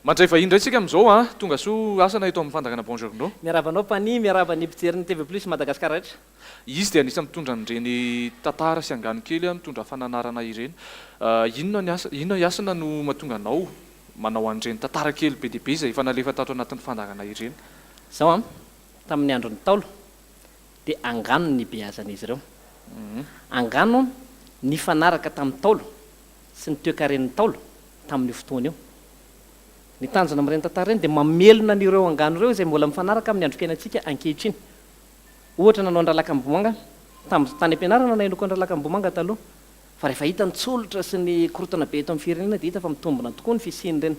Mandray vahiny indray tsika amin'izao an! Tonga soa Hasana eto amin'ny fandangana Buongiorno. Miarahaba anao Pani, miarahaba ny mpijery ny TV Plus Madagascar rehetra. Izy dia anisan'ny mitondra an'ireny tantara sy angano kely mitondra fananarana ireny. Inona ny asa, inona i Hasina no mahatonga anao manao an'ireny tantara kely be dia be izay efa nalefa tato anatin'ny fandangana ireny? Izao an, tamin'ny andron'ny Ntaolo dia angano ny nibeazan'izy ireo. Angano nifanaraka tamin'ny Ntaolo sy ny toekaren'ny Ntaolo tamin'io fotoana io. Ny tanjona amin'ireny tantara ireny dia mamelona an'ireo angano ireo izay mbola mifanaraka amin'ny androm-piainantsika ankehitriny. Ohatra nanao an-dRalakambohimanga tamin'ny tany am-pianarana na inoako an-dRalakambohimanga taloha fa rehefa hita ny tsolotra sy ny korontana be eto amin'ny firenena dia hita fa mitombina tokoa ny fisian'ireny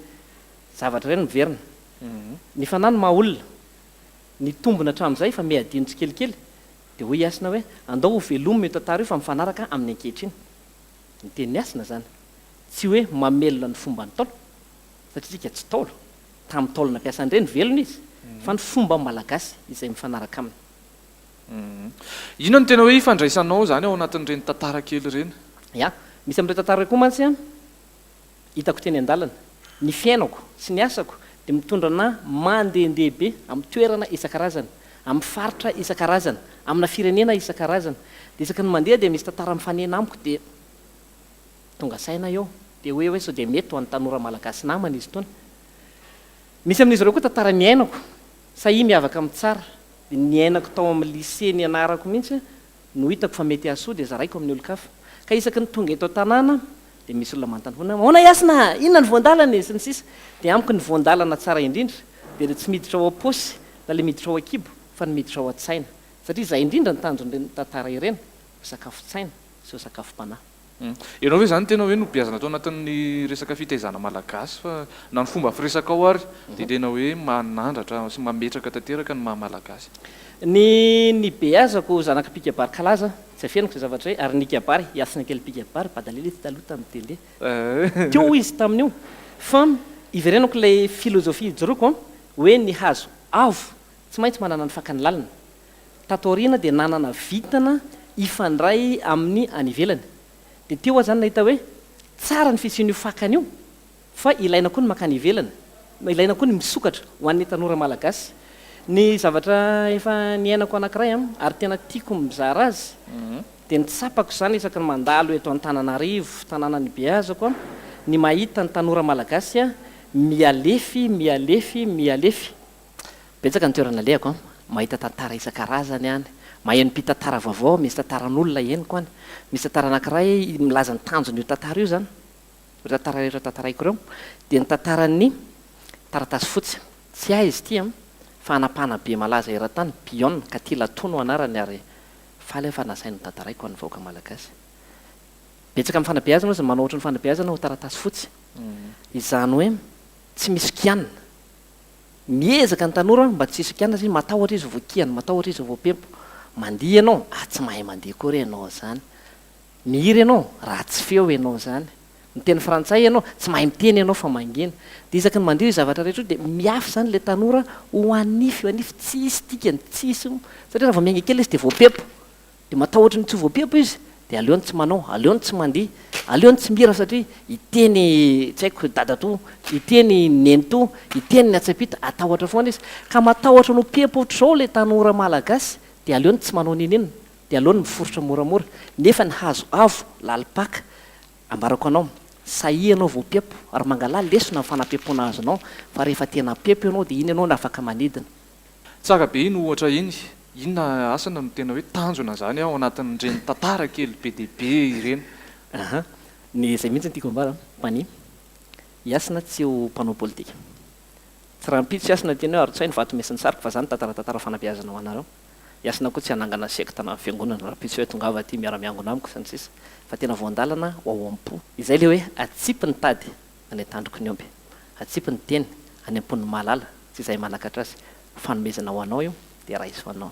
zavatra ireny miverina. Ny fanahy no maha olona. Nitombina hatramin'izay fa miha-adino tsikelikely. Dia hoy i Hasina hoe, andao hovelomina io tantara io fa mifanaraka amin'ny ankehitriny. Ny teny miasina izany tsy hoe mamelona ny fomba ny Ntaolo, satria isika tsy Ntaolo, tamin'ny Ntaolo nampiasa an'ireny velona izy, fa ny fomba malagasy izay mifanaraka aminy. Inona no tena hoe ifandraisanao izany ao anatin'ireny tantara kely ireny? Ya, misy amin'ireny tantara ireny koa mantsy an! hitako teny an-dalana, ny fiainako sy ny asako dia mitondra anà mandehandeha be amin'ny toerana isan-karazany, amin'ny faritra isan-karazany, amina firenena isan-karazany. Dia isaky ny mandeha dia misy tantara mifanena amiko dia tonga saina eo dia hoe hoe sao dia mety ho an'ny tanora malagasy namana izy itony. Misy amin'izy ireo koa tantara niainako, sahia miavaka amin'ny tsara, dia niainako tao amin'ny lycée nianarako mihitsy no hitako fa mety hahasoa dia zaraiko amin'ny olon-kafa. Ka isaky ny tonga eto an-tanàna Dia misy olona manontany foana, ahoana Hasina a? Inona no voan-dalana e? sy ny sisa Dia amiko ny voan-dalana tsara indrindra dia ilay tsy miditra ao am-paosy na ilay miditra ao an-kibo fa ny miditra ao an-tsaina satria izay indrindra no tanjon'ireny tantara ireny, ho sakafon-tsaina sy ho sakafom-panahy. Ianao ve izany tena hoe nobeazana tao anatin'ny resaka fitaizana malagasy fa na ny fomba firesakao ary dia tena hoe manandratra sy mametraka tanteraka ny maha malagasy? Ny nibeazako zanak'Apika Barikalaza Tsy afeniko izay zavatra hoe ary nikabary, Yasina kely mpikabary, bada lele tsy taloha tamin'ny tele. Teo izy tamin'io. Fa iverenako ilay filozofia ijoroako an, hoe ny hazo avo tsy maintsy manana ny fakany lalina. Tato aoriana dia nanana vintana hifandray amin'ny any ivelany. Dia teo aho izany nahita hoe tsara ny fisian'io fakany io, Fa ilaina koa ny mankany ivelany, ilaina koa ny misokatra ho an'ny tanora malagasy. Ny zavatra efa niainako anankiray an, ary tena tiako ny mizara azy, dia ny tsapako izany isaky ny mandalo eto Antananarivo, tanàna nibeazako an, ny mahita ny tanora malagasy an, mihalefy, mihalefy, mihalefy. Betsaka ny toerana alehako an, mahita tantara isan-karazany an, maheno mpitantara vaovao, misy tantaran'olona henoko an, misy tantara anankiray milaza ny tanjon'io tantara io izany. Ireo tantara ireo tantaraiko ireo dia ny tantaran'ny taratasy fotsy. Tsy ahy izy ity an! Fa anapahana be malaza eran-tany, Bion, Katy Latoa no anarany ary faly aho fa nasainy notantaraiko ho an'ny vahoaka malagasy. Betsaka amin'ny fanabeazana hozy ny manao ohatry ny fanabeazana ho taratasy fotsy. Izany hoe tsy misy kianina. Miezaka ny tanora mba tsy hisy kianina satria matahotra izy ho voakiana, matahotra izy ho voapempo. Mandihy ianao? Ah tsy mahay mandihy akory ianao izany. Mihira ianao, ratsy feo ianao izany. Miteny frantsay ianao, tsy mahay miteny ianao fa mangina. Dia isaky ny mandeha io zavatra rehetra io dia miafy izany ilay tanora ho hanify ho hanify, tsisy dikany, tsisy, satria raha vao miainga kely izy dia voapepo. Dia matahotra ny tsy ho voapepo izy, dia aleony tsy manao, aleony tsy mandihy, aleony tsy mihira satria hiteny tsy haiko dadatoa, hiteny nenitoa, hiteny ny hatsaim-pito, hatahotra foana izy. Ka matahotra ny ho pepo ohatr'izao ilay tanora malagasy dia aleony tsy manao n'inon'inona. Dia aleo ny miforitra moramora. Nefa ny hazo avo lalim-paka, ambarako anao, sahia ianao vao mpihapo, ary mangalà lesona amin'ny fanampiam-poana azonao, fa rehefa tena mpihapo ianao dia iny ianao no afaka manidina. Tsara be iny ohatra iny. Inona asany no tena hoe tanjona izany ao anatin'ireny tantara kely be dia be ireny? Aha, ny izay mihitsy no tiako ambara, Pani. I Hasina tsy ho mpanao politika. Tsy rahampitso i Hasina teny hoe Arotsahy ny vato mesin'ny sariko fa izany tantara tantara fanabeazana ho anareo. Hiasina koa tsy hanangana sekta na fiangonana rahampitso hoe tongava aty miara-miangona amiko sy ny sisa fa tena voandalana ho ao am-po. Izay ilay hoe atsipy ny tady any an-tandroky ny omby. Atsipy ny teny any am-pon'ny mahalala sy izay manakatra azy. Fanomezana ho anao io dia raiso anao.